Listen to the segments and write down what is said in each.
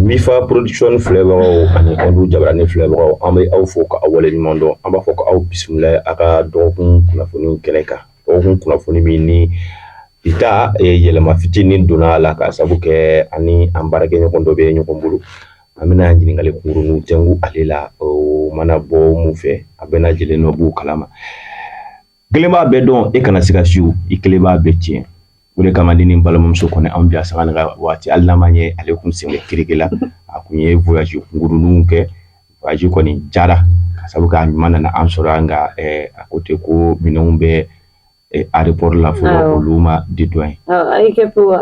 Mifa production filɛbagaw ani Ɔdu jabaranin filɛbagaw an bɛ aw fo ka aw waleɲuman dɔn an b'a fɔ ko aw bisimila a ka dɔgɔkun kunnafoni kɛnɛ kan Dɔgɔkun kunnafoni min ni bi ta yɛlɛma fitinin donna a la ka sabu kɛ ani an baarakɛɲɔgɔn dɔ bɛ ɲɔgɔn bolo an bɛna ɲininkali kurun tɛnku ale la o mana bɔ min fɛ a bɛna jɛlen nɔ b'o kalama kelen b'a bɛɛ dɔn i kana siga si i kelen b'a bɛɛ tiɲɛ O de kama ni balimamuso kɔnɛ an bɛ yan sanga waati hali n'a ma ye ale kun sen bɛ keke la a tun ye voyage kunkurunninw kɛ voyage kɔni jara ka sabu kɛ a ɲuman nana an sɔrɔ yan nka a ko ten ko minɛnw bɛ aéroport la fɔlɔ olu ma dédouané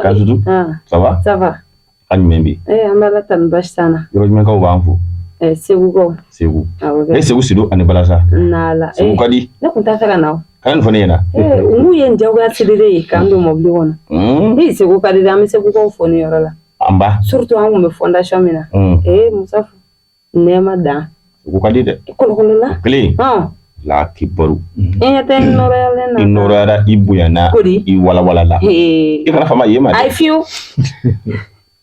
Kajuru ça va? A jumɛn bɛ ee an bɛ ala tanu basi t'an na yɔrɔ jumɛnkaw b'an fo ee segukaw segu awɔ e kɛ segu sido ani balansan n'ala segu ee ka di ne tun t'a fɛ ka na o kan nin fana ɲɛna ee olu ye n jagoya sirire ye k'an don mɔbili kɔnɔ Hmm, ee segu ka di dɛ an bɛ segukaw fo nin yɔrɔ la nba surtout an tun bɛ fondation min na Hmm. ee musa nɛɛma dan Segu ka di dɛ. i kolokolo la Kelen, hɔn la kibaru. i ɲɛ tɛ n nɔrɔyalen na I nɔrɔyara, i bonyana, ko di i walawalala. Ee, I kana fama ye ma a ye dɛ. fiyewu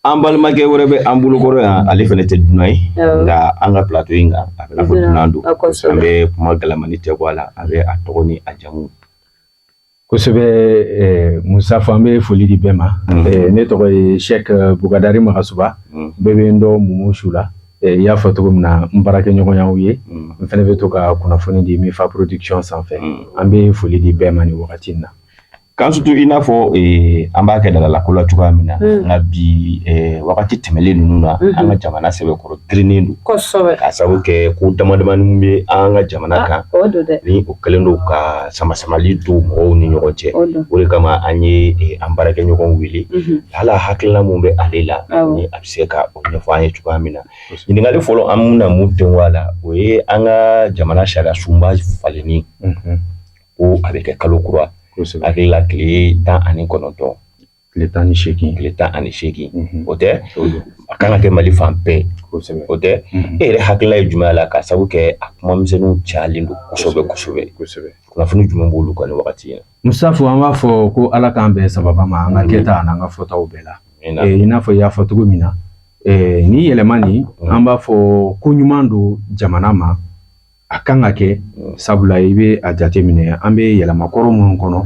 An balimakɛ wɛrɛ bɛ an bolokɔrɔ yan, ale fana tɛ dunan ye. Awɔ. Nka an ka plateau in kan, a bɛ n'a fɔ Dunan, dunan don. a kosɛbɛ. An bɛ kuma galamani tɛnku a la, a bɛ a tɔgɔ ni a jamu. kosɛbɛ eh, musa fo an bɛ foli di bɛɛ ma mm. eh, ne tɔgɔ ye shek eh, bugadari magasuba mm. bɛɛ bɛ n dɔn mumu su la i y'a fɔ cogo min na n baarakɛɲɔgɔn ye aw ye mm. n fana bɛ to ka kunnafoni di mifa production sanfɛ an bɛ foli di bɛɛ ma nin wagati in na k'an sutu i n'a fɔ an b'a kɛ delinako la cogoya min na nka bi wagati tɛmɛlen ninnu na mm-hmm. an ka jamana sɛbɛkɔrɔ girinnen don kosɛbɛ k'a sababu kɛ ko damadamani bɛ an ka jamana ah, kan ni o kɛlen don ka samasamali don mɔgɔw ni ɲɔgɔn cɛ o de kama an ye eh, an baarakɛ ɲɔgɔn wele mhm. hala hakilila min bɛ ale la ni a bɛ se ka o ɲɛfɔ an ye cogoya min na ɲininkali fɔlɔ an bɛna min tɛnku a la o ye an ka jamana sariya sunba falenni mhm. ko a bɛ kɛ kalo kura hakilila tile tan ani kɔnɔntɔn tile tan ni segin tile tan ani segin o tɛ a ka kan ka kɛ mali fan bɛɛ o tɛ e yɛrɛ hakilila ye jumɛn y'a la ka sabu kɛ a kumamisɛnw calen don kosɛbɛsɛbɛsɛbɛ kunnafoni jumɛn b'i bolo o kan nin wagati ye musafo an b'a fɔ ko ala k'an bɛn sawaba ma an ka kɛtaw n'an ka fɔtaw bɛɛ la i n'a fɔ i y'a fɔ cogo min na nin yɛlɛma nin an b'a fɔ ko ɲuman don jamana ma a kan ka kɛ sabula i bɛ a jateminɛ an bɛ yɛlɛma kɔrɔ minnu kɔnɔ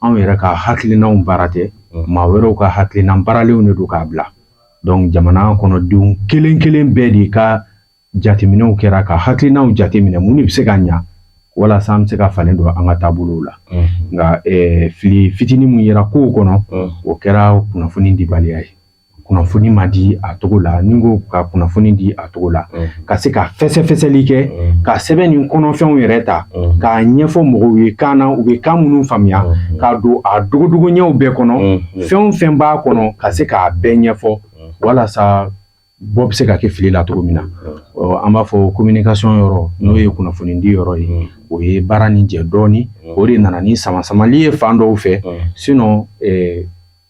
anw yɛrɛ ka hakilinaw baara tɛ maa wɛrɛw ka hakilina baaralenw de don k'a bila dɔnku jamana kɔnɔdenw kelen kelen bɛɛ de ka jateminɛw kɛra ka hakilinaw jateminɛ minnu bɛ se ka ɲɛ walasa an bɛ se ka falen don an ka taabolow la nka fili fitinin min yera kow kɔnɔ o kɛra kunnafoni dibaliya ye kunnafoni ma di a cogo la ni ko ka kunnafoni di a cogo la ka se ka fɛsɛfɛsɛli kɛ ka sɛbɛn nin kɔnɔfɛnw yɛrɛ ta k'a ɲɛfɔ mɔgɔw ye kan na u bɛ kan minnu faamuya k'a don a dogodogo ɲɛw bɛɛ kɔnɔ fɛn o fɛn b'a kɔnɔ ka se k'a bɛɛ ɲɛfɔ walasa bɔ bɛ se ka kɛ fili la cogo min na an b'a fɔ kominikasɔn yɔrɔ n'o ye kunnafoni di yɔrɔ ye o ye baara nin jɛ dɔɔnin o de nana ni samasamali ye fan dɔw fɛ sinɔn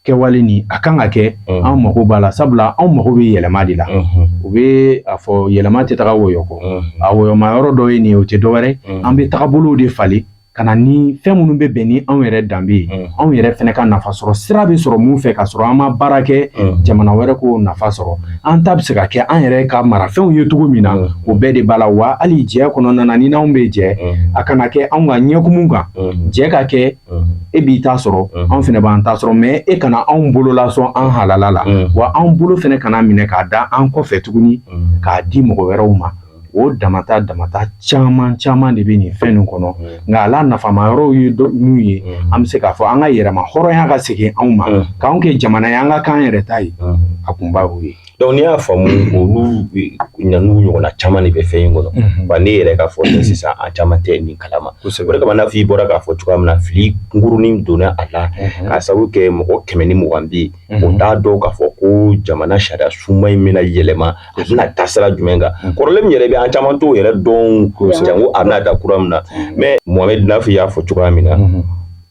kɛwale nin a kan ka kɛ an mago b'a la sabula anw mago bɛ yɛlɛma de la u bɛ a fɔ yɛlɛma tɛ taga wɔyɔ kɔ a wɔyɔma yɔrɔ dɔ ye nin o tɛ dɔwɛrɛ an bɛ tagabolow de falen ka na ni fɛn minnu bɛ bɛn ni anw yɛrɛ danbe ye anw yɛrɛ fɛnɛ ka nafa sɔrɔ sira bɛ sɔrɔ min fɛ ka sɔrɔ an ma baara kɛ jamana wɛrɛ k'o nafa sɔrɔ an ta bɛ se ka kɛ an yɛrɛ ka marafɛnw ye cogo min na o bɛɛ de b'a la wa hali jɛ kɔnɔna na ni n'anw bɛ jɛ a kana kɛ anw ka ɲɛkumu kan jɛ ka kɛ e b'i ta sɔrɔ anw fɛnɛ b'an ta sɔrɔ mɛ e kana anw bolo lasɔn an halala la wa anw bolo fɛnɛ kana minɛ k'a da an kɔ fɛ tuguni k'a di mɔgɔ wɛrɛw ma o damata damata caman caman de bɛ nin fɛn nin kɔnɔ nka a la nafama yɔrɔw ye ninnu ye an bɛ se k'a fɔ an ka yɛrɛmahɔrɔnya ka segin anw ma k'anw kɛ jamana ye an ka k'an yɛrɛ ta ye a kunba ye Dɔnku n'i y'a faamu olu n'u ɲɔgɔnna caman de bɛ fɛn in kɔnɔ wa ne yɛrɛ ka fɔ sisan an caman tɛ nin kalama o de kama n'a fɔ i bɔra k'a fɔ cogoya min na fili kunkurunnin donna a la k'a sabu kɛ mɔgɔ kɛmɛ ni mugan bɛ yen o t'a dɔn k'a fɔ ko jamana sariya sunba in bɛna yɛlɛma a bɛna taa sira jumɛn kan kɔrɔlen min yɛrɛ bɛ an caman t'o yɛrɛ dɔn janko a bɛna taa kura min na mɛ Mohamɛd n'a f'i y'a fɔ cogoya min na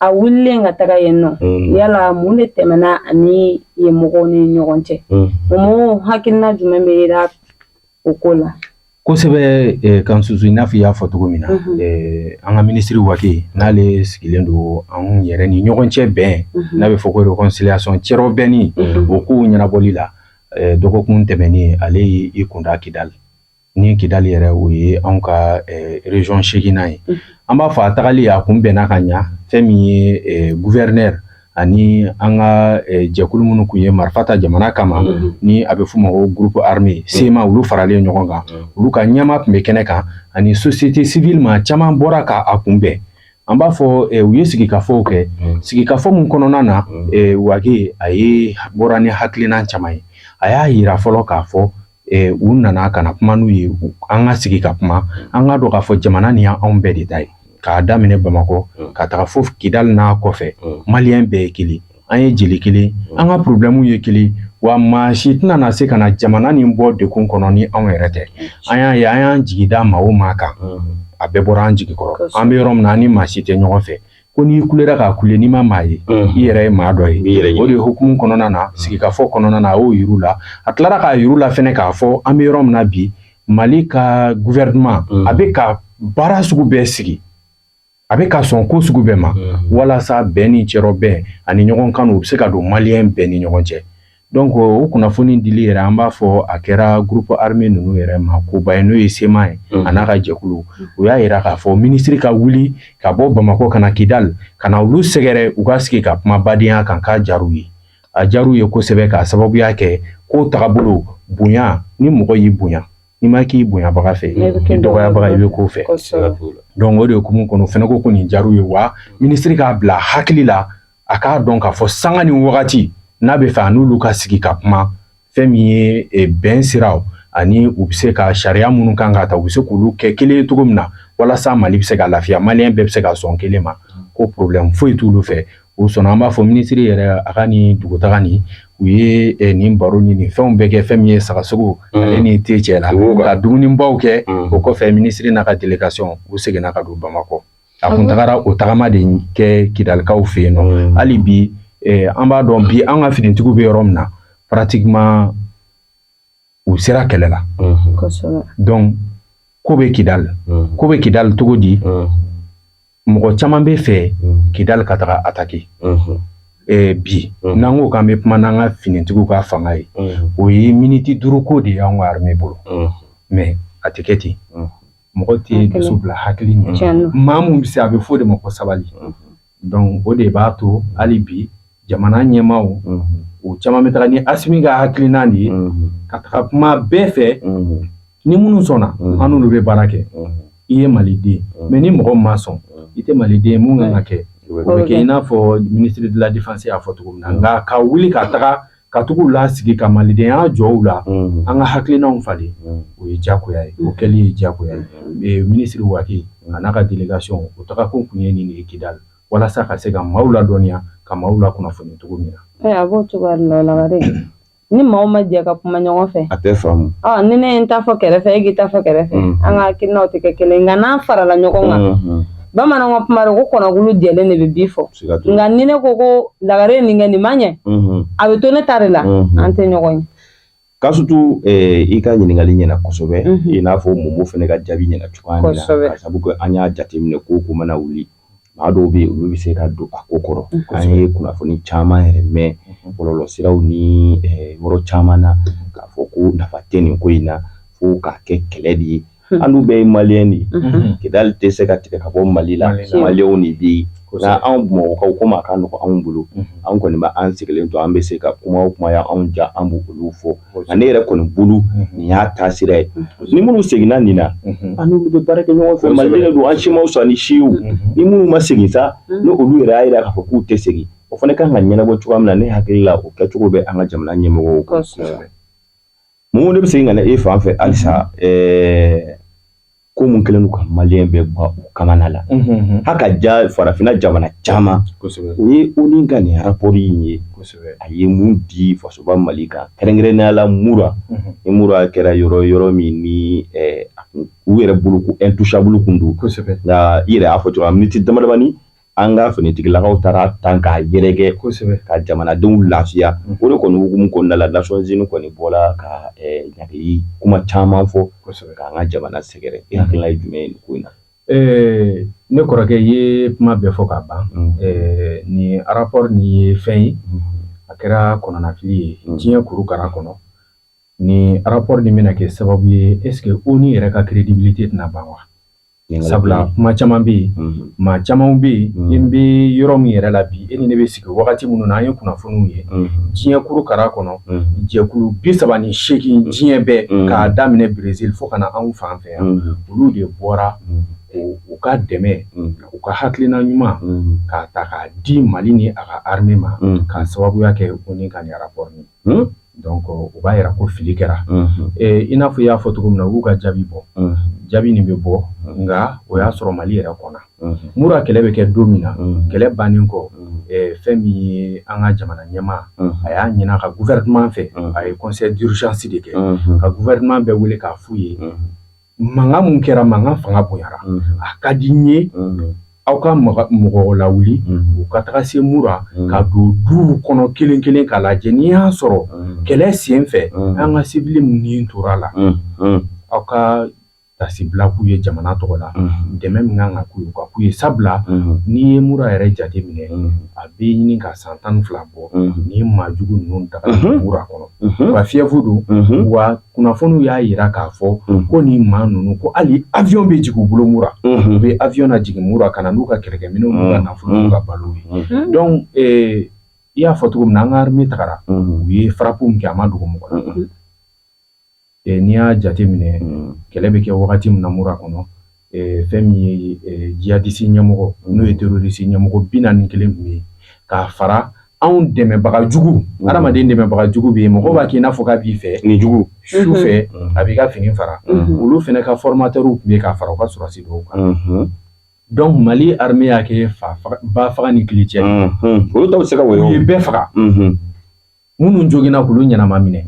a wulilen ka taga yen nɔ mm. yala mun de tɛmɛna a ni yen mɔgɔw ni ɲɔgɔn cɛ mm. o mɔgɔw hakilina jumɛn bɛ yira o ko la kosɛbɛ eh, kan susu n'a fɔ i y'a fɔ cogo min na mm-hmm. eh, an ka minisiri Wage n'ale sigilen don an yɛrɛ ni ɲɔgɔn cɛ bɛn mm-hmm. n'a bɛ fɔ ko reconciliation cɛrɔ bɛnni mm-hmm. o kow ɲɛnabɔli la eh, dɔgɔkun tɛmɛnen ale y'i kunda Kidali ni Kidali yɛrɛ o ye anw ka rezɔn seeginan ye an b'a fɔ a tagali a kunbɛnna ka ɲɛ fɛn min ye gouverneur ani an ka jɛkulu minnu tun ye marifa ta jamana kama ni a bɛ f'o ma ko groupe armé CMA olu faralen ɲɔgɔn kan olu ka ɲɛmaa tun bɛ kɛnɛ kan ani société civile maa caman bɔra k'a kunbɛn an b'a fɔ u ye sigikafɔ kɛ sigikafɔ min kɔnɔna na Wage a ye bɔra ni hakilina caman ye a y'a jira fɔlɔ k'a fɔ u nana ka na kuma n'u ye an ka sigi ka kuma an k'a dɔn k'a fɔ jamana nin y'anw bɛɛ de ta ye k'a daminɛ bamakɔ ka taga fo kidal n'a kɔfɛ maliyɛn bɛɛ ye kelen an ye jeli kelen an ka problɛmuw ye kelen wa maa si tɛna se ka na jamana nin bɔ degun kɔnɔ ni anw yɛrɛ tɛ an y'a ye an y'an jigi da maa o maa kan a bɛɛ bɔra an jigi kɔrɔ an bɛ yɔrɔ min na an ni maa si tɛ ɲɔgɔn fɛ ko n'i kulera k'a kule n'i ma maa ye i yɛrɛ ye maa dɔ ye o de hukumu kɔnɔna na sigikafɔ kɔnɔna na a y'o yir'u la a tilara k'a yir'u la fɛnɛ k'a fɔ an bɛ yɔrɔ min na bi mali ka gouvernement a bɛ ka baara sugu bɛɛ sigi a bɛ ka sɔn ko sugu bɛɛ ma walasa bɛn ni cɛrɔbɛn ani ɲɔgɔn kanu bɛ se ka don maliyɛn bɛɛ ni ɲɔgɔn cɛ Donc o kunnafoni dili yɛrɛ an b'a fɔ a kɛra groupe armé ninnu yɛrɛ ma koba ye n'o ye CMA ye a n'a ka jɛkulu u y'a jira k'a fɔ minisiri ka wuli ka bɔ bamakɔ ka na kidali ka na olu sɛgɛrɛ u ka sigi ka kuma badenyaya kan k'a diyar'u ye a diyar'u ye kosɛbɛ k'a sababuya kɛ ko tagabolo bonya ni mɔgɔ y'i bonya n'i ma k'i bonyabaga fɛ i dɔgɔyabaga i bɛ k'o fɛ donc o de hukumu kɔnɔ fɛnɛ ko nin diyar'u ye wa minisiri k'a bila hakili la a k'a dɔn k'a fɔ sanga ni wagati n'a bɛ fɛ a n'olu ka sigi ka kuma fɛn min ye eh, bɛn siraw ani u bɛ se ka sariya minnu kan ka ta u bɛ se k'olu kɛ kelen ye cogo min na walasa mali bɛ se ka lafiya maliyɛn bɛɛ bɛ se ka sɔn kelen ma ko problɛmu foyi t'olu fɛ u sɔnna an b'a fɔ minisiri yɛrɛ a ka nin dugutaga nin u ye eh, nin baro ni nin fɛnw bɛɛ kɛ fɛn min ye sagasogo mm. ale ni te cɛ la ka dumunibaw kɛ mm. o kɔfɛ minisiri n'a ka delegation u seginna ka don bamakɔ a kun tagara o tagama de kɛ kidalikaw fɛ yen nɔ mm. hali bi eh, an b'a dɔn bi an ka finitigiw bɛ yɔrɔ min na pratiquement u sera kɛlɛ la mm-hmm. donc ko bɛ kidali mm. ko bɛ kidali cogo di mm. mɔgɔ caman b'a fɛ kidali ka taga attaquer mm-hmm. eh, bi n'an ko k'an bɛ kuma n'an ka finitigiw ka fanga ye mm-hmm. o ye miniti duuru ko de y'an ka armée bolo mais a tɛ kɛ ten mɔgɔ tɛ dusu bila hakili ɲɛ maa min bɛ se a bɛ fɔ o de ma ko sabali donc o de b'a to hali bi jamana ɲɛmaaw caman bɛ taa ni asimi ka hakilina de ye ka taga kuma bɛɛ fɛ ni minnu sɔnna an n'olu bɛ baara kɛ i ye maliden mais ni mɔgɔ ma sɔn i tɛ maliden min kan ka kɛ o bɛ kɛ i n'a fɔ ministre de la défense y'a fɔ cogo min na nka ka wuli ka taga ka tag'u lasigi ka malidenya jɔ u la an ka hakilinaw falen o ye jagoya ye o kɛli ye jagoya ye minisiri wage a n'a ka delegation u taga kun tun ye nin ye kidal walasa ka se ka maaw ladɔnniya ka maaw lakunnafoni cogo min na a b'o cogoya de la ni maaw ma jɛ ka kuma ɲɔgɔn fɛ a tɛ faamu ni ne ye n ta fɔ kɛrɛfɛ e k'i ta fɔ kɛrɛfɛ an ka hakilinaw tɛ kɛ kelen nka n'an farala ɲɔgɔn kan bamananw ka kuma don ko kɔnɔkulu jɛlen de bɛ bi fɔ siga t'o la nka ni ne ko ko lagare ye nin kɛ nin ma ɲɛ Mhm. a bɛ to ne ta de la Mhm. an tɛ ɲɔgɔn ye kasutu eh, i ka ɲininkali ɲɛna kosɛbɛ Mhm. i n'a fɔ momo fɛnɛ ka jaabi ɲɛna cogoya min na Kosɛbɛ. ka sabu kɛ an y'a jateminɛ ko ko mana wuli maa dɔw bɛ yen olu bɛ se ka don a ko kɔrɔ Mhm. an ye kunnafoni caman yɛrɛ mɛn bɔlɔlɔsiraw ni eh, yɔrɔ caman na k'a fɔ ko nafa tɛ nin ko in na fo k'a kɛ kɛlɛ de ye Hun. An dun bɛɛ ye maliyɛn de ye Unhun. kidali tɛ se ka tigɛ ka bɔ mali la Mali la. maliyɛnw de bɛ yen Kosɛbɛ. nka anw bamakɔkaw komi a ka nɔgɔn anw bolo Unhun. anw kɔni bɛ an sigilen to an bɛ se ka kuma o kuma y'anw ja an b'olu fɔ nka ne yɛrɛ kɔni bolo Unhun. nin y'a taasira ye ni minnu seginna nin na Unhun. an n'olu bɛ baara kɛ ɲɔgɔn fɛ Kosɛbɛ. maliden de don an si man fisa ni si ye Unhun. ni minnu ma segin sa Unhun. ni olu yɛrɛ y'a jira k'a fɔ k'u tɛ segin o fana ka kan ka ɲɛnabɔ cogoya min na ne hakili la o kɛcogo bɛ an ka jamana ɲɛmɔgɔw bolo. Kosɛbɛ. Mun ne bɛ segin ka na e fan fɛ halisa ɛɛ ko minnu kɛlen don ka maliyɛn bɛɛ bɔ u kamana la, unhun, hali ka diya farafinna jamana caman, kosɛbɛ, o ye ONU ka nin rapport in ye, kosɛbɛ, a ye mun di fasoba Mali kan kɛrɛnkɛrɛnnenya la mura, unhun, ni mura kɛra yɔrɔ ye yɔrɔ min ni u yɛrɛ bolo ko intouchable kun don, kosɛbɛ, nka i yɛrɛ y'a fɔ cogoya min na miniti damadamanin An ka finitigilakaw taara tan k'a yɛrɛkɛ kosɛbɛ ka jamanadenw lafiya o de kɔni hukumu kɔnɔna la Nations Unies kɔni bɔla ka ɲangili kuma caman fɔ k'an ka jamana sɛgɛrɛ e hakilila ye jumɛn ye ko in na ɛɛ ne kɔrɔkɛ ye kuma bɛɛ fɔ k'a ban nin rapport nin ye fɛn ye a kɛra kɔnɔnafili ye diɲɛ kurukara kɔnɔ ni rapport nin bɛna kɛ sababu ye est-ce que ONU yɛrɛ ka crédibilité tɛna ban wa Sabula kuma caman bɛ yen maa caman bɛ yen n bɛ yɔrɔ min yɛrɛ la bi e ni ne bɛ sigi wagati minnu na an ye kunnafoniw ye diɲɛ kurukara kɔnɔ jɛkulu bi saba ni seegin diɲɛ bɛɛ k'a daminɛ Brésil fo ka na anw fan fɛ yan olu de bɔra u ka dɛmɛ u ka hakilina ɲuman k'a ta k'a di mali ni a ka armée ma k'a sababuya kɛ ONU ka nin rapport u b'a jira ko fili kɛra i n'a fɔ i y'a fɔ cogo min na u b'u ka jaabi bɔ jaabi nin bɛ bɔ nka o y'a sɔrɔ mali yɛrɛ kɔnɔ mura kɛlɛ bɛ kɛ don min na kɛlɛ bannen kɔ fɛn min ye an ka jamana ɲɛmaa a y'a ɲini a ka gouvernement fɛ a ye conseil d'urgence de kɛ ka gouvernement bɛɛ wele k'a f'u ye mankan mun kɛra mankan fanga bonyara a ka di n ye aw ka mɔgɔw lawuli u ka taga se mura ka don du kɔnɔ kelen kelen k'a lajɛ n'i y'a sɔrɔ kɛlɛ sen fɛ an ka sibili minnu tora la aw ka tasibila k'u ye jamana tɔgɔ la dɛmɛ min kan ka k'u ye ka k'u ye sabula n'i ye mura yɛrɛ jate minɛ a bɛ ɲini ka san tan fila bɔ ni maajugu ninnu ta mura kɔnɔ u ka fief don wa kunnafoniw y'a jira k'a fɔ ko ni maa ninnu ko hali avion bɛ jigin u bolo mura u bɛ avion lajigin mura ka na n'u ka kɛlɛkɛminɛnw n'u ka nafolo n'u ka balo ye donc i y'a fɔ cogo min na an ka armée tagara u ye frappe min kɛ a ma dogo mɔgɔ la n'i y'a jateminɛ kɛlɛ bɛ kɛ wagati min na mura kɔnɔ fɛn min ye djihadiste ɲɛmɔgɔ n'o ye terroriste ɲɛmɔgɔ bi naani ni kelen tun bɛ k'a fara anw dɛmɛbagajugu adamaden dɛmɛbagajugu bɛ yen mɔgɔ b'a k'i n'a fɔ k'a b'i fɛ nijugu su fɛ a b'i ka fini fara olu fana ka formateurw tun bɛ k'a fara u ka sɔrɔsi dɔw kan donc mali armée y'a kɛ ba faga ni kili cɛ olu dɔw bɛ se ka wɔyɔ u ye bɛɛ faga minnu joginna k'olu ɲɛnama minɛ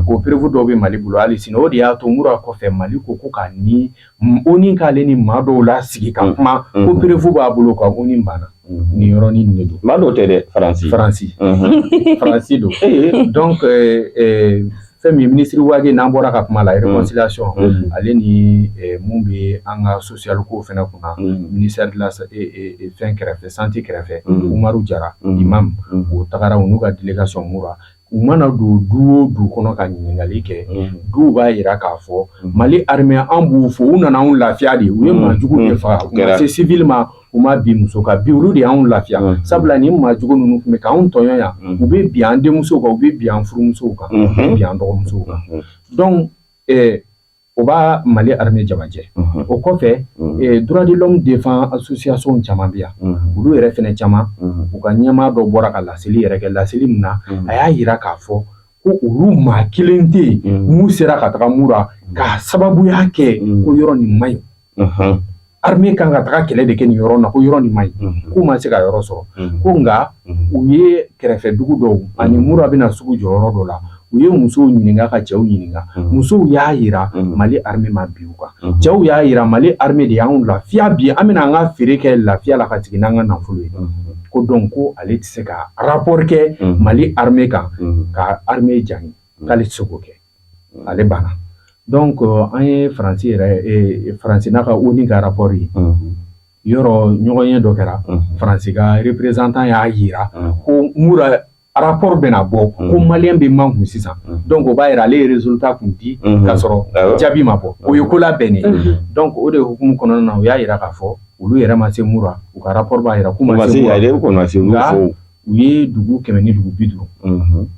ko preuve dɔw bɛ mali bolo hali sini o de y'a to mura kɔfɛ mali ko ko ka ni ONU k'ale ni maa dɔw lasigi ka kuma ko preuve b'a bolo ka ONU banna ni yɔrɔnin de don maa dɔw tɛ dɛ faransi faransi faransi don donc fɛn min ye ministre wage n'an bɔra ka kuma la réconciliation ale ni min bɛ an ka so cial ko fana kunna ministère de la fɛn kɛrɛfɛ santé kɛrɛfɛ umaru jara imam o tagara u n'u ka délégation mura u mana don du o du kɔnɔ ka ɲininkali kɛ duw b'a jira k'a fɔ mali armée an b'u fo u nana anw lafiya de u ye maajugu de faga u ma se civil ma u ma bin muso kan bi olu de y'an lafiya sabula ni maajugu ninnu tun bɛ k'anw tɔɲɔ yan u bɛ bin an denmusow kan u bɛ bin an furumusow kan u bɛ bin an dɔgɔmusow kan donc O b'a mali armée jamajɛ o kɔfɛ droit de l'homme défense association caman bɛ yan olu yɛrɛ fana caman u ka ɲɛmaa dɔ bɔra ka laseli yɛrɛ kɛ laseli min na a y'a jira k'a fɔ ko olu maa kelen tɛ yen min sera ka taga mura k'a sababuya kɛ ko yɔrɔ nin man ɲi armée kan ka taga kɛlɛ de kɛ nin yɔrɔ na ko yɔrɔ nin man ɲi k'u ma se ka yɔrɔ sɔrɔ ko nka u ye kɛrɛfɛ dugu dɔw ani mura bɛna sugu jɔ yɔrɔ dɔ la u ye musow ɲininka ka cɛw ɲininka musow y'a jira mali armée ma bin u kan cɛw y'a jira mali armée de y'an lafiya bi an bɛna an ka feere kɛ lafiya la ka segin n'an ka nafolo ye ko donc ko ale tɛ se ka rapport kɛ mali armée kan ka armée jalaki k'ale tɛ se k'o kɛ ale banna donc an ye faransi yɛrɛ faransi n'a ka ONU ka rapport ye yɔrɔ ɲɔgɔnye dɔ kɛra faransi ka représentant y'a jira ko mura rapport bɛna bɔ ko malien bɛ mankun sisan donc o b'a jira ale ye résultat tun di k'a sɔrɔ jaabi ma bɔ o ye ko labɛnnen donc o de hukumu kɔnɔna na u y'a jira k'a fɔ olu yɛrɛ ma se mura u ka rapport b'a jira k'u ma se mura nka u ye dugu kɛmɛ ni dugu bi duuru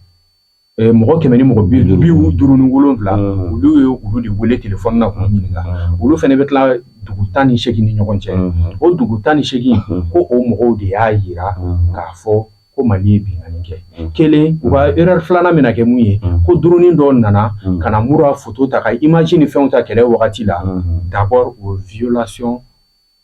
Mɔgɔ kɛmɛ ni mɔgɔ bi duuru ni wolowula olu ye olu de wele téléphone na k'u ɲininka olu fana bɛ tila dugu tan ni segin ni ɲɔgɔn cɛ o dugu tan ni segin ko o mɔgɔw de y'a jira k'a fɔ ko mali ye binkanni kɛ kelen u ka erreur filanan min kɛ mun ye ko drone dɔ nana ka na Mura photo ta ka image ni fɛnw ta kɛlɛ wagati la d'abord o violation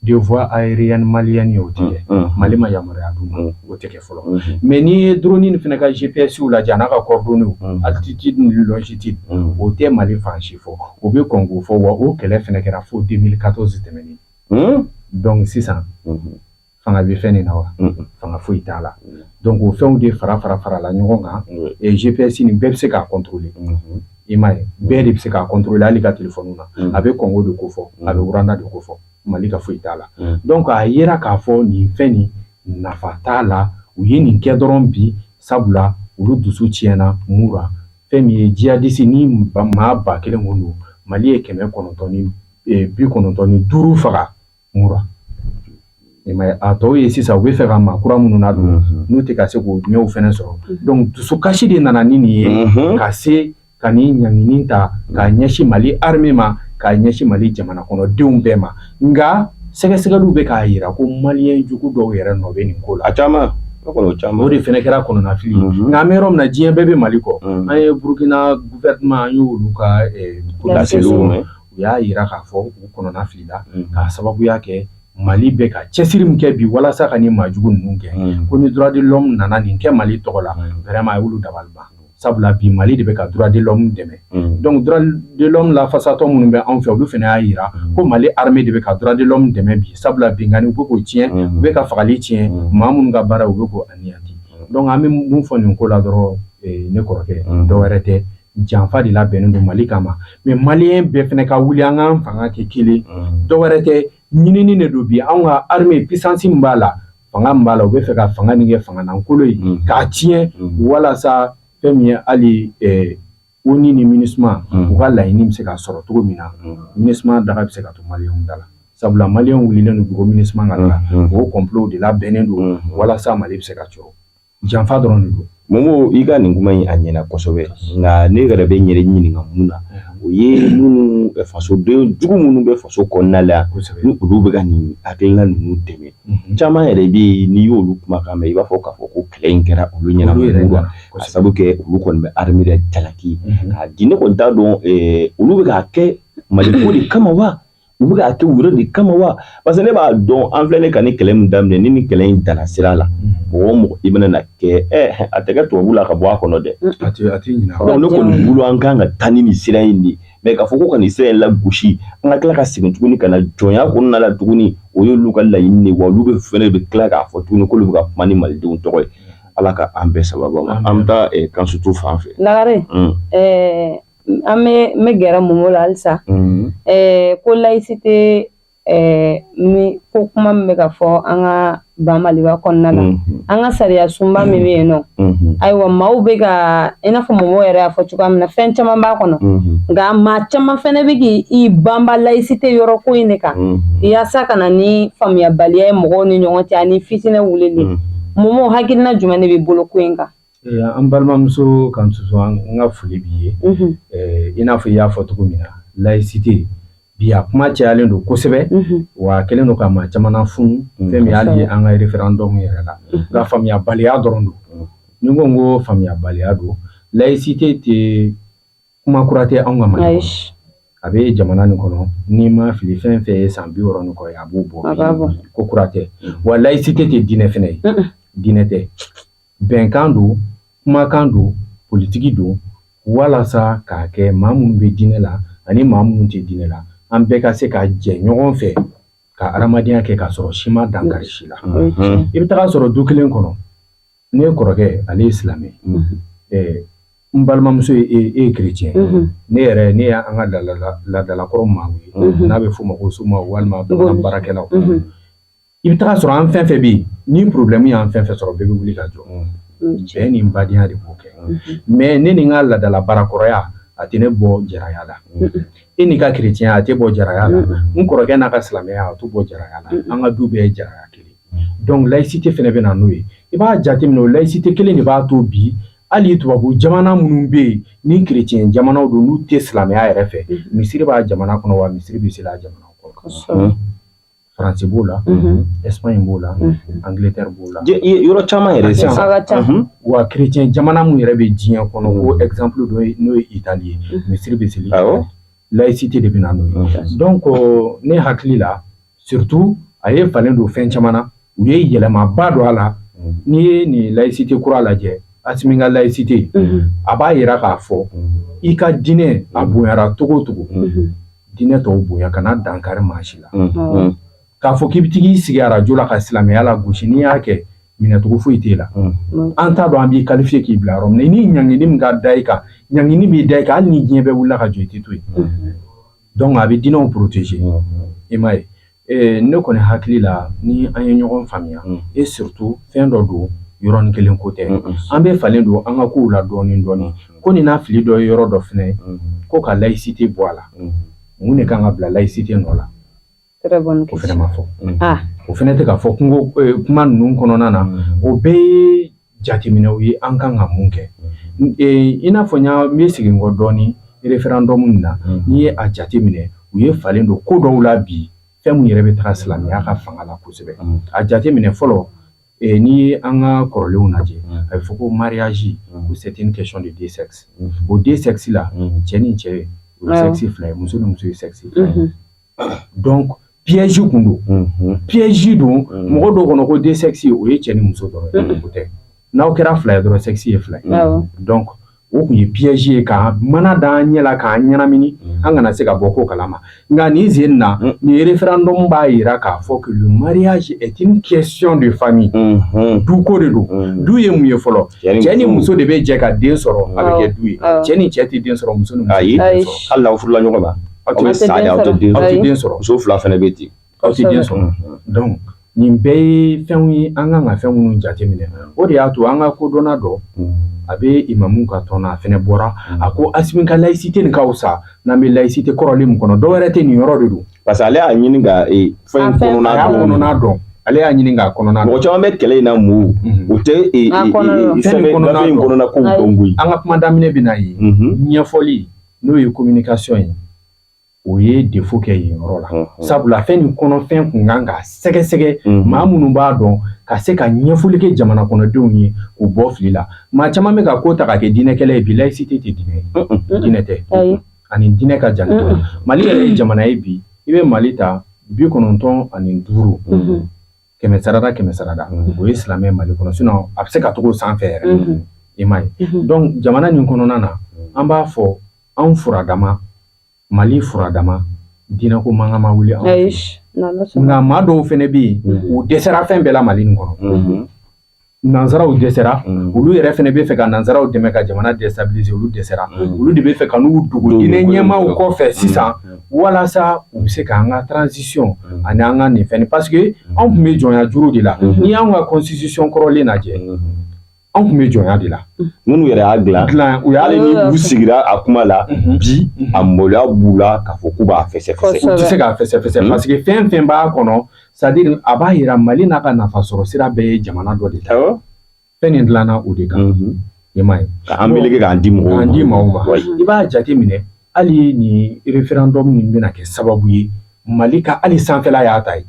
De voie aérienne malienne o tɛ mali ma yamaruya d'u ma o tɛ kɛ fɔlɔ mais n'i ye drone nin fana ka gpsw lajɛ n'a ka coordonnées altitude ni longitude o tɛ mali fan si fɔ o bɛ Congo fɔ wa o kɛlɛ fana kɛra fo deux mille quatorze tɛmɛnen donc sisan fanga bɛ fɛn nin na wa fanga foyi t'a la donc o fɛnw de fara fara farala ɲɔgɔn kan gps nin bɛɛ bɛ se k'a contrôler I m'a ye bɛɛ de bɛ se k'a contrôler hali ka téléphone na a bɛ Congo de kofɔ a bɛ Rwanda de kofɔ mali ka foyi t'a la donc a yera k'a fɔ nin fɛn nin nafa t'a la u ye nin kɛ dɔrɔn bi sabula olu dusu tiɲɛna Mura fɛn min ye djihadiste ni maa ba kelen kun don mali ye kɛmɛ kɔnɔntɔn ni bi kɔnɔntɔn ni duuru faga mura a tɔw ye sisan u b'a fɛ ka maa kura minnu nadon n'u tɛ ka se k'o ɲɛw fana sɔrɔ donc dusukasi de nana ni nin ye ka se ka nin ɲangini ta k'a ɲɛsin Mali armée ma k'a ɲɛsin Mali jamanakɔnɔdenw bɛɛ ma nka sɛgɛsɛgɛliw bɛ k'a jira ko maliyɛn jugu dɔw yɛrɛ nɔ bɛ nin ko la a caman o de fana kɛra kɔnɔnafili ye nka an bɛ yɔrɔ min na diɲɛ bɛɛ bɛ Mali kɔ an ye Burukina gouvernement an y'olu ka laseliw mɛn u y'a jira k'a fɔ u kɔnɔnafilila k'a sababuya kɛ mali bɛ ka cɛsiri min kɛ bi walasa ka nin maajugu ninnu kɛ ko ni droit de l'homme nana nin kɛ mali tɔgɔ la vraiment a y'olu dabali ban sabula bi mali de bɛ ka droit de l'homme dɛmɛ donc droit de l'homme lafasatɔ minnu bɛ anw fɛ olu fana y'a jira ko mali armée de bɛ ka droit de l'homme dɛmɛ bi sabula binkanni u bɛ k'o tiɲɛ u bɛ ka fagali tiɲɛ maa minnu ka baara u bɛ k'o anéantir donc an bɛ mun fɔ nin ko la dɔrɔn ne kɔrɔkɛ dɔwɛrɛ tɛ janfa de labɛnnen don mali kama mais maliyɛn bɛɛ fana ka wuli an k'an fanga kɛ kelen dɔwɛrɛ tɛ ɲinini de don bi anw ka armée puissance min b'a la fanga b'a la u b'a fɛ ka fanga nin kɛ fangalankolon ye k'a tiɲɛ walasa fɛn min ye hali ONU ni MINUSMA u ka laɲini bɛ se ka sɔrɔ cogo min na MINUSMA daga bɛ se ka to maliyɛn da la sabula maliyɛnw wulilen bɛ ko MINUSMA ka taa o complot de labɛnnen don walasa mali bɛ se ka jɔ Janfa dɔrɔn de don Momo i ka nin kuma in a ɲɛna kosɛbɛ nka ne yɛrɛ bɛ n yɛrɛ ɲininka mun na o ye minnu fasoden jugu minnu bɛ faso kɔnɔnala ni olu bɛ ka nin hakilina ninnu dɛmɛ caman yɛrɛ bɛ yen n'i y'olu kumakan mɛn i b'a fɔ k'a fɔ ko kɛlɛ in kɛra olu ɲɛ na Mura ka sabu kɛ olu kɔni bɛ armée de jalaki k'a di ne kɔni t'a dɔn olu bɛ k'a kɛ mali ko de kama wa U bɛ k'a kɛ u yɛrɛ de kama wa parce que ne b'a dɔn an filɛ ne ka nin kɛlɛ min daminɛ ni nin kɛlɛ in danna sira la mɔgɔ o mɔgɔ i bɛna na kɛ ɛ a tɛ kɛ tubabu la ka bɔ a kɔnɔ dɛ a tɛ a tɛ ɲinɛ a kɔ. donc ne kɔni bolo an kan ka taa ni nin sira in de ye mais k'a fɔ ko ka nin sira in lagosi an ka tila ka segin tuguni ka na jɔnya kɔnɔna la tuguni o y'olu ka laɲini de ye wa olu bɛ fɛnɛ bɛ tila k'a fɔ tuguni k'olu bɛ ka kuma ni malidenw tɔgɔ ye ala ka an bɛɛ sababa ma an bɛ taa eh, Kansutu fan fɛ Lagare un. ɛɛ an bɛ n bɛ gɛrɛ Momo la halisa ko laïcité ko kuma min bɛ ka fɔ an ka ba Maliba kɔnɔna na an ka sariya sunba min bɛ yen nɔ ayiwa maaw bɛ ka i n'a fɔ Momo yɛrɛ y'a fɔ cogoya min na fɛn caman b'a kɔnɔ nka maa caman fɛnɛ bɛ k'i banba laïcité yɔrɔ ko in de kan yaasa ka na ni faamuyabaliya ye mɔgɔw ni ɲɔgɔn cɛ ani fitinɛ wulili Momo hakilina jumɛn de b'i bolo ko in kan. An balimamuso Kansutu n ka foli b'i ye i n'a fɔ i y'a fɔ cogo min na layisite bi a kuma cayalen don kosɛbɛ wa kɛlen don ka maa caman funu fɛn y'a ye an ka référendum yɛrɛ la nka faamuyabaliya dɔrɔn don ni ko n ko faamuyabaliya don layisite tɛ kuma kura tɛ anw ka Mali a bɛ jamana nin kɔnɔ ni n ma fili fɛn fɛn ye san biwɔɔrɔ ni kɔ a b'o bɔ ko kura tɛ wa layisite tɛ diinɛ fana ye diinɛ tɛ bɛnkan don kumakan don politiki don walasa k'a kɛ maa minnu bɛ diinɛ la ani maa minnu tɛ diinɛ la an bɛɛ ka se ka jɛ ɲɔgɔn fɛ ka adamadenya kɛ k'a sɔrɔ si ma dankari si la i bɛ taga sɔrɔ du kelen kɔnɔ ne kɔrɔkɛ ale ye silamɛ n balimamuso ye e ye kerecɛn ne yɛrɛ ne y' an ka ladalakɔrɔ maa ye n'a bɛ f'o ma ko soma walima baarakɛlaw i bɛ taga sɔrɔ an fɛn fɛn bɛ yen ni porobilɛmu y'an fɛn fɛn sɔrɔ bɛɛ bɛ wuli ka jɔ bɛn ni badenya de b'o kɛ mais ne ni n ka ladala baarakɔrɔya a tɛ ne bɔ jaraya la e n'i ka kerecɛnya a t'e bɔ jaraya la n kɔrɔkɛ n'a ka silamɛya a t'o bɔ jaraya la an ka du bɛɛ ye jaraya kelen donc layisite fana bɛ na n'o ye i b'a jateminɛ o layisite kelen de b'a to bi hali tubabu jamana minnu bɛ yen ni kerecɛn jamanaw don n'u tɛ silamɛya yɛrɛ fɛ misiri b'a jamana kɔnɔ wa misiri bɛ seli a jamana kɔnɔ Faransi b'o la Espagne b'o la Angleterre b'o la yɔrɔ caman yɛrɛ sisan wa kerecɛn jamana minnu yɛrɛ bɛ diɲɛ kɔnɔ ko exemple dɔ ye n'o ye Italie ye misiri bɛ seli layisite de bɛ na n'o ye donc ne hakili la surtout a ye falen don fɛn caman u ye yɛlɛmaba don a la n'i ye nin laïcité kura lajɛ Asimi ka laïcité a b'a yira k'a fɔ i ka diinɛ a bonyara cogo o cogo diinɛ tɔw bonya kana dankari maa si la k'a fɔ k'i bɛ tag'i sigi arajo la ka silamɛya lagosi n'i y'a kɛ minɛcogo foyi t'e la an t'a dɔn an b'i qualifier k'i bila yɔrɔ min na ni ɲangini min ka da i kan ɲangini bɛ da i kan hali ni diɲɛ bɛɛ wulila ka jɔ i tɛ to yen donc a bɛ diinɛw protéger i m'a ye Ee ne kɔni hakili la ni an ye ɲɔgɔn faamuya et surtout fɛn dɔ don yɔrɔnin kelen ko tɛ an bɛ falen don an ka kow la dɔɔnin dɔɔnin ko nin n'a fili dɔ yɔrɔ dɔ fɛnɛ ko ka laïcité bɔ a la mun de kan ka bila laïcité nɔ la o fɛnɛ ma fɔ o fɛnɛ tɛ ka fɔ kunko kuma ninnu kɔnɔna na o bɛɛ jateminɛw ye an kan ka mun kɛ i n'a fɔ yan n bɛ segin kɔ dɔɔnin référendum nin na n'i ye a jateminɛ u ye falen don ko dɔw la bi fɛn min yɛrɛ bɛ taga silamɛya ka fanga la kosɛbɛ a jateminɛ fɔlɔ n'i ye an ka kɔrɔlenw lajɛ a bɛ fɔ ko mariage o c'est une question de deux sexes o deux sexes la cɛ ni cɛ ye sexe fila ye muso ni muso ye sexe donc piège kun don unhun piège don Mm. mɔgɔ dɔw kɔnɔ ko deux sexes o ye cɛ ni muso dɔrɔn ye Mm. o tɛ n'aw kɛra fila ye dɔrɔn sexe ye fila ye Awɔ. donc o kun ye piège ye ka mana da an ɲɛ la k'an ɲɛnamini Mm. an kana se ka bɔ ko kalama nka nin sen in na Mm. nin référendum b'a yira k'a fɔ que le mariage est une question de famille unhun duko de don Mm. du ye mun ye fɔlɔ cɛ ni muso de bɛ jɛ ka den sɔrɔ a bɛ Awɔ. kɛ du ye Awɔ. cɛ ni cɛ tɛ den sɔrɔ muso ni muso Ayi. tɛ den Ayi. sɔrɔ hali n'aw furula ɲɔgɔn ma Aw tɛ sa aw tɛ den sɔrɔ muso fila fana bɛ ten aw tɛ den sɔrɔ donc nin bɛɛ ye fɛnw ye an kan ka fɛn minnu jateminɛ o de y'a to an ka kodɔnna dɔ a bɛ imamu ka tɔn na a fɛnɛ bɔra a ko Asimi ka laïcité nin ka wusa n'an bɛ laïcité kɔrɔlen min kɔnɔ dɔ wɛrɛ tɛ nin yɔrɔ de don parce que ale y'a ɲini ka fɛn kɔnɔna dɔn ale y'a ɲini k'a kɔnɔna dɔn mɔgɔ caman bɛ kɛlɛ in na minnu tɛ fɛn in kɔnɔ ko dɔn koyi an ka kuma daminɛ bɛ na ye ɲɛfɔli n'o ye communication ye o ye défaut kɛ yen yɔrɔ la sabula fɛn nin kɔnɔfɛn kun kan ka sɛgɛsɛgɛ maa minnu b'a dɔn ka se ka ɲɛfɔli kɛ jamana kɔnɔdenw ye k'u bɔ fili la maa caman bɛ ka ko ta ka kɛ diinɛkɛlɛ ye bi laïcité tɛ diinɛ diinɛ tɛ a ni diinɛ ka jan mali yɛrɛ ye jamana ye bi i bɛ mali ta bi kɔnɔntɔn ani duuru kɛmɛ sarada kɛmɛ sarada o ye silamɛ mali kɔnɔ sinon a bɛ se ka tag'o sanfɛ yɛrɛ i m'a ye donc jamana nin kɔnɔna na an b'a fɔ anw furadama mali furadama diinɛko mankan ma wuli nka maa dɔw fɛnɛ bɛ yen u dɛsɛra fɛn bɛɛ la mali nin kɔnɔ Nansaraw dɛsɛra olu yɛrɛ fana bɛ fɛ ka nansaraw dɛmɛ ka jamana déstabiliser olu dɛsɛra olu de bɛ fɛ ka n'u dogo diinɛ ɲɛmaaw kɔ fɛ sisan walasa u bɛ se k'an ka transition ani an ka nin fɛn parce que anw tun bɛ jɔnya juru de la n'i y'an ka constitution kɔrɔlen lajɛ anw tun bɛ jɔnya de la minnu yɛrɛ y'a dilan hali n'u sigira a kuma la bi a maloya b'u la k'a fɔ k'u b'a fɛsɛfɛsɛ u tɛ se k'a fɛsɛfɛsɛ parce que fɛn fɛn b'a kɔnɔ c'est-à-dire a b'a yira mali n'a ka nafa sɔrɔ sira bɛɛ ye jamana dɔ de ta fɛn nin dilanna o de kan i m'a ye k'an meleke k'an di mɔgɔw ma i b'a jate minɛ hali nin référendum min bɛna kɛ sababu ye mali ka hali sanfɛla y'a ta ye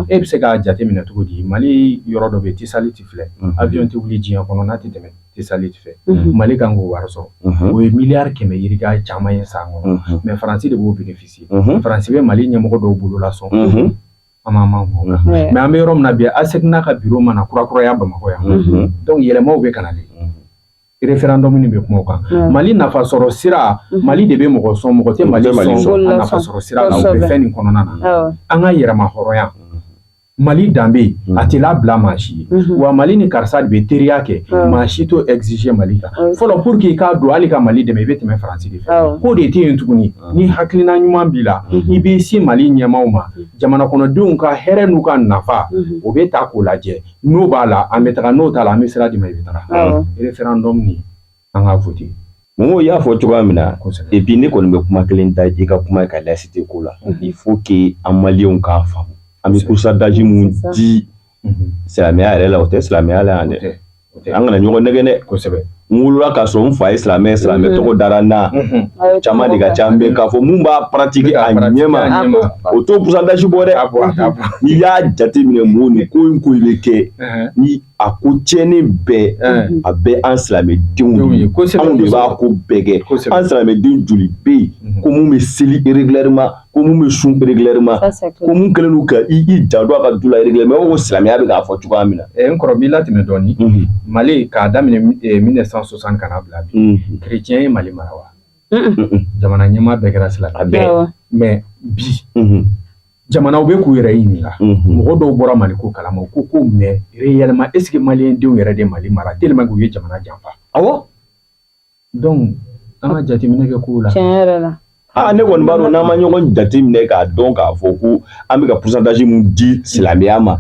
e bɛ se k'a jate minɛ cogo di mali yɔrɔ dɔ bɛ Tisaliti filɛ avion tɛ wuli diɲɛ kɔnɔ n'a tɛ tɛmɛ Tisaliti fɛ mali kan k'o wari sɔrɔ o ye miliyari kɛmɛ yirika caman ye san kɔnɔ mais faransi de b'o bénéficier faransi bɛ mali ɲɛmɔgɔ dɔw bolo lasɔn an m'a fɔ mais an bɛ yɔrɔ min na bi ASECNA ka bureau mana kurakuraya bamakɔ yan donc yɛlɛmaw bɛ ka na référendum nin bɛ kuma o kan mali nafa sɔrɔ sira mali de bɛ mɔgɔ sɔn mɔgɔ tɛ mali sɔn a nafa sɔrɔ sira la o bɛ fɛn nin kɔnɔna na an ka yɛrɛmahɔrɔnya Mali danbe a tɛ labila maa si ye wa mali ni karisa de bɛ teriya kɛ maa si t'o exiger mali kan fɔlɔ pour que i ka don hali ka mali dɛmɛ i bɛ tɛmɛ faransi de fɛ k'o de tɛ yen tuguni ni hakilina ɲuman b'i la i bɛ se mali ɲɛmaaw ma jamana kɔnɔdenw ka hɛrɛ n'u ka nafa o bɛ taa k'o lajɛ n'o b'a la an bɛ taga n'o t'a la an bɛ sira d'i ma i bɛ taa référendum nin an ka voter Mɔgɔw y'a fɔ cogoya min na et puis ne kɔni bɛ kuma kelen da i ka kuma kan laïcité ko la il faut que an maliyɛnw k'a faamu an bɛ pourcentage min di silamɛya yɛrɛ la o tɛ silamɛya la yan dɛ an kana ɲɔgɔn nɛgɛ dɛ kosɛbɛ n wolola k'a sɔrɔ n fa ye silamɛ ye silamɛ mm-hmm. tɔgɔ dara n na mm-hmm. caman de ka ca mais k'a fɔ mun b'a pratiquer a ɲɛma o t'o pourcentage bɔ dɛ n'i y'a jateminɛ mun ni ko in ko in bɛ kɛ uh-huh. ni a ko tiɲɛni bɛɛ a bɛ an silamɛdenw ye anw de b'a ko bɛɛ kɛ an silamɛden joli bɛ yen mhm. ko minnu bɛ seli régulièrement ko minnu bɛ sun régulièrement ko minnu kɛlen don ka i janto a ka du la régulièrement o silamɛya bɛ k'a fɔ cogoya min na. Eh, n kɔrɔ b'i latɛmɛ dɔɔni mhm. mali k'a daminɛ 1960 eh, ka na bila bi mhm. kerecɛn ye mali mara wa. jamana ɲɛmaa bɛɛ kɛra silamɛ mais bi jamanaw bɛ k'u yɛrɛ ɲininka mɔgɔ dɔw bɔra mali ko kalama ko mais réellement est-ce que maliyɛn denw yɛrɛ de mali mara tellement k'u ye jamana janfa awɔ donc an ka jateminɛ kɛ kow la aa ne kɔni b'a dɔn n'an ma ɲɔgɔn jate minɛ k'a dɔn k'a fɔ ko an bɛ ka pourcentage min di silamɛya ma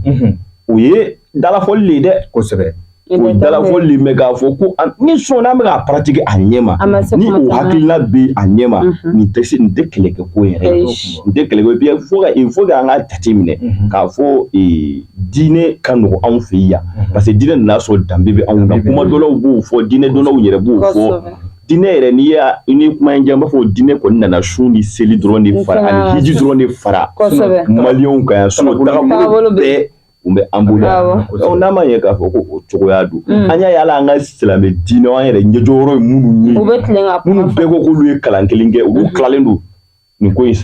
o ye dalafɔli de ye dɛ kosɛbɛ O dalafɔli mais k'a fɔ ko ni sɔn an b'a pratiquer a ɲɛ ma ni o hakilina bɛ a ɲɛ ma nin tɛ se nin tɛ kɛlɛ kɛ ko yɛrɛ nin tɛ kɛlɛ bi fo fo an ka jate minɛ k'a fɔ diinɛ ka nɔgɔ anw fɛ yan parce que diinɛ nana a sɔrɔ danbe bɛ anw na kuma dɔnnaw b'o fɔ diinɛ dɔnnaw yɛrɛ b'o fɔ diinɛ yɛrɛ n'i y'a ni kuma in jɛ an b'a fɔ diinɛ kɔni nana sun ni seli dɔrɔn de fara ani hiji dɔrɔn de fara mali kan so bɛɛ u bɛ an bolo yan n'a ma ɲɛ k'a fɔ ko o cogoya don mm. an y'a ye hali an ka silamɛ diinɛ an yɛrɛ ɲɛjɔyɔrɔ ye minnu ye minnu bɛɛ ko k'olu ye kalan kelen kɛ olu mm-hmm. tilalen don nin ko in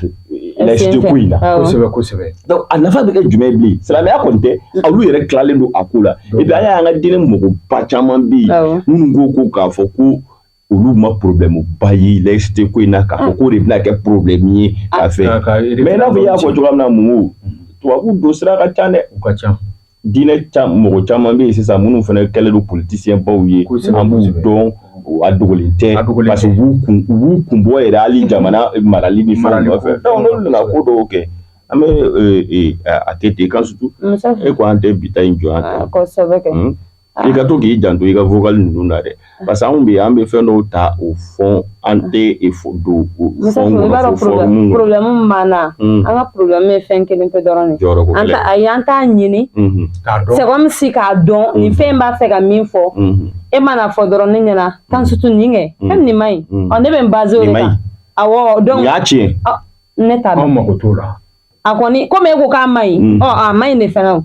laïcité ko in na kosɛbɛ kosɛbɛ donc a nafa bɛ kɛ jumɛn bilen silamɛya kɔni tɛ mm-hmm. olu yɛrɛ tilalen don a ko la et puis an y'a ye an ka diinɛ mɔgɔba caman bɛ yen minnu ko ko k'a fɔ ko olu ma problème ba ye laïcité ko in na k'a fɔ k'o de bɛna kɛ problème ye a fɛ K'a ka mais i n'a fɔ i y'a fɔ cogoya min na Momo tubabu don sira ka ca dɛ u ka ca diinɛ ca mɔgɔ caman bɛ yen sisan minnu fana kɛlen don politisiyɛn baw ye Kosɛbɛ, an b'u kosɛbɛ. dɔn o a dogolen tɛ A dogolen parce que tɛ. u b'u kun u b'u kun bɔ yɛrɛ hali jamana marali ni fɛnw Marali ko. nɔfɛ donc n'olu nana ko dɔw kɛ an bɛ ee, ee, a a kɛ ten kan surtout Musa e ko an tɛ bi ta in jɔ yan Ah, kosɛbɛ kɛ Mm. i ka to k'i janto i ka vocal ninnu na dɛ parce que anw bɛ an bɛ fɛn dɔw ta o fond an tɛ don problème b'an na an ka problème ye fɛn kelen pe dɔrɔn an t'a ɲini c'est comme si k'a dɔn nin fɛn b'a fɛ ka min fɔ e mana fɔ dɔrɔn ne ɲɛna kan surtout nin kɛ e nin man ɲi ne bɛ n basé y'a tiɲɛ ne t'a dɔn anw mako t'o la a kɔni komi e ko k'a man ɲi mm. ɔ a man ɲi de fana o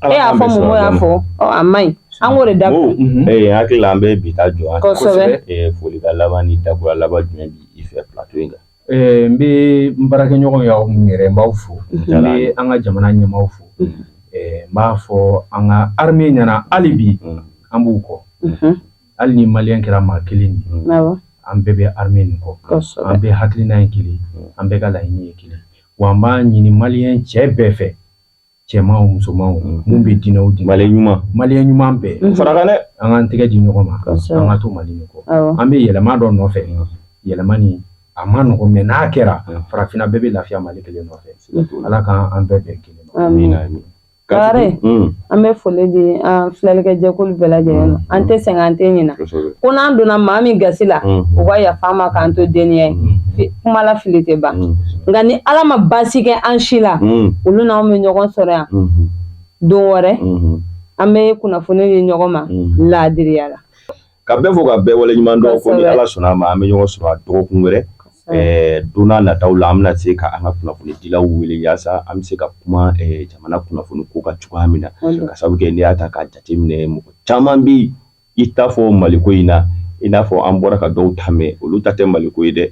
e y'a fɔ Momo y'a fɔ ɔ a man ɲi an k'o de dabila mm-hmm. ee hakili la an bɛ bi ta jɔ yan kosɛbɛ ee folikan laban ni dakura laban jumɛn b'i fɛ plateau in kan ee n bɛ n baarakɛɲɔgɔn y'aw minnu yɛrɛ n b'aw fo n bɛ an ka jamana ɲɛmaaw fo mm-hmm. ee n b'a fɔ an ka armée ɲɛna hali bi mm. an b'u kɔ mm-hmm. Hali ni maliyɛn kɛra maa kelen ye an bɛɛ bɛ armée nin kɔ an bɛɛ hakilina ye kelen an bɛɛ ka laɲini ye kelen wa an b'a ɲini maliyɛn cɛ bɛɛ fɛ cɛmanw musomanw minnu bɛ diinɛ di mali ɲuman maliyɛn ɲuman bɛɛ n fara dɛ an k'an tɛgɛ di ɲɔgɔn ma an ka to mali nin kɔ an bɛ yɛlɛma dɔ nɔfɛ yɛlɛma nin a man nɔgɔ mais n'a kɛra farafinna bɛɛ bɛ lafiya mali kelen nɔfɛ ala k'an bɛɛ bɛn kelen Kare an bɛ foli di an filɛlikɛ jɛkulu bɛɛ lajɛlen ma an tɛ sɛgɛn an tɛ ɲina ko n'an donna maa min gasi la u ka yafa an ma k'an to deniya ye kuma la fili tɛ ban nka ni ala ma baasi kɛ an si la olu n'an bɛ ɲɔgɔn sɔrɔ yan don wɛrɛ an bɛ kunnafoni di ɲɔgɔn ma laadiriya la Ka bɛɛ fɔ ka bɛɛ wale ɲuman dɔn ko ni ala sɔnna a ma an bɛ ɲɔgɔn sɔrɔ a dɔgɔkun wɛrɛ don nataw la an bɛna se ka an ka kunnafonidilaw wele yaasa an bɛ se ka kuma jamana kunnafoni ko ka cogoya min na ka sabu kɛ n'i y'a ta k'a jateminɛ mɔgɔ caman bɛ i ta fɔ maliko in na i n'a fɔ an bɔra ka dɔw ta mɛn olu ta tɛ maliko ye dɛ